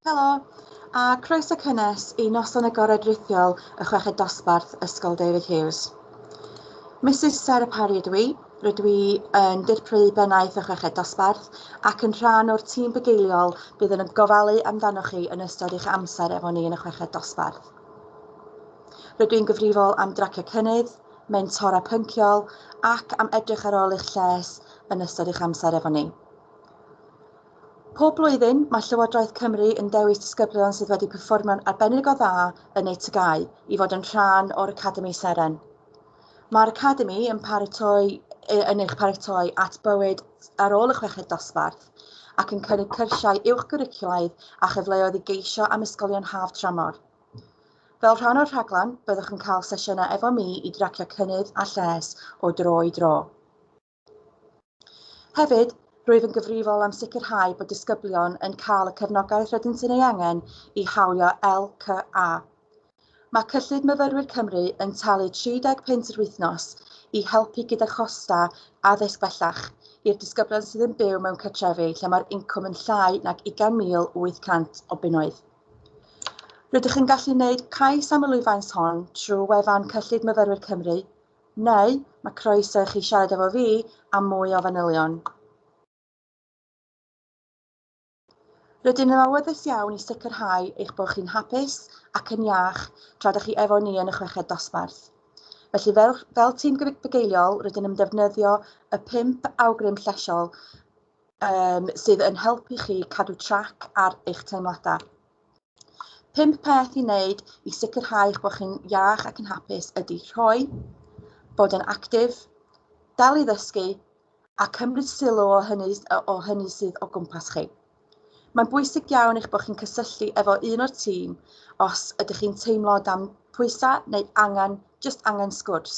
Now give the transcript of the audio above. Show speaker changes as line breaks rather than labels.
Helo, a croeso cynnes i Noson Agored Rithiol y Chweched Dosbarth Ysgol David Hughes. Mrs Sarah Parry ydw i, rydw i yn dirprwy bennaeth y Chweched Dosbarth ac yn rhan o'r tîm bugeiliol bydd yn gofalu amdanoch chi yn ystod eich amser efo ni yn y Chweched Dosbarth. Rydw i'n gyfrifol am dracio cynnydd, mentora pynciol ac am edrych ar ôl eich lles yn ystod eich amser efo ni. Pob blwyddyn, mae Llywodraeth Cymru yn dewis disgyblion sydd wedi perfformio'n arbennig o dda yn eu tygau i fod yn rhan o'r Academi Seren. Mae'r Academi yn paratoi yn eich paratoi at bywyd ar ôl y chweched dosbarth ac yn cynnig cyrsiau uwch gwricwlaidd a chyfleoedd i geisio am ysgolion haf tramor. Fel rhan o'r rhaglen, byddwch yn cael sesiynau efo mi i dracio cynnydd a lles o dro i dro. Hefyd, rwyf yn gyfrifol am sicrhau bod disgyblion yn cael y cefnogaeth rydyn sy'n ei angen i hawlio LCA. Mae Cyllid Myfyrwyr Cymru yn talu 30 punt yr wythnos i helpu gyda chosta addysg bellach i'r disgyblion sydd yn byw mewn cartrefi lle mae'r incwm yn llai nag 20,800 o bunnoedd. Rydych yn gallu gwneud cais am y lwyfans hon trwy wefan Cyllid Myfyrwyr Cymru, neu mae croeso i chi siarad efo fi am mwy o fanylion. Rydyn yn awyddus iawn i sicrhau eich bod chi'n hapus ac yn iach tra dych chi efo ni yn y chweched dosbarth. Felly fel, fel tîm bugeiliol rydyn yn defnyddio y pimp awgrym llesiol um, sydd yn helpu chi cadw trac ar eich teimladau. Pum peth i wneud i sicrhau bod chi'n iach ac yn hapus ydy rhoi, bod yn actif, dal i ddysgu a cymryd sylw o hynny, o hynny sydd o gwmpas chi. Mae'n bwysig iawn eich bod chi'n cysylltu efo un o'r tîm os ydych chi'n teimlo dan pwysau neu angen, just angen sgwrs.